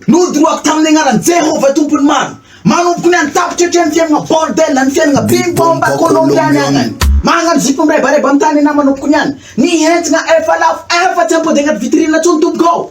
Nodoroako tamin'ny agnaran'i Jehovah Tompon'ny maro. Manomboka ny any tapitra hatrany fiainana bordel, ny fiainana bim bomba kolombiana any. Magnano zipo mirebareba amin'ny tany ianao manomboka ny any. Ny entagna efa lafo, efa tsy ampody agnaty vitrine intsony tompoko ô.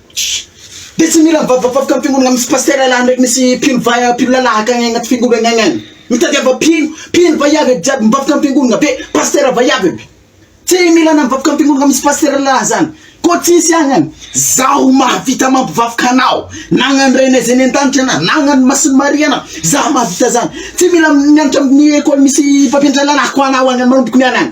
De tsy mila mivavavaboka am fiangonagna misy pasitera lahy ndraiky misy mpino va mpino lalah akagny agnaty fiangonagna agny agny mitadiava mpino mpino vaiavy aby jiaby mivavaka am fiangonagna be pasitera vaiavy aby tsy mila anao mivavaka am fiangonagna misy pasitera lalah zany koa tsisy agny agny zaho mahavita mampivavaka anao nagnano ray anay zay any andanitra ana nagnano masin'i maria ana zaho mahavita zany tsy mila mianatra am ny ekôly misy mpampianatra lalah ko anao agny manomboka ny agny agny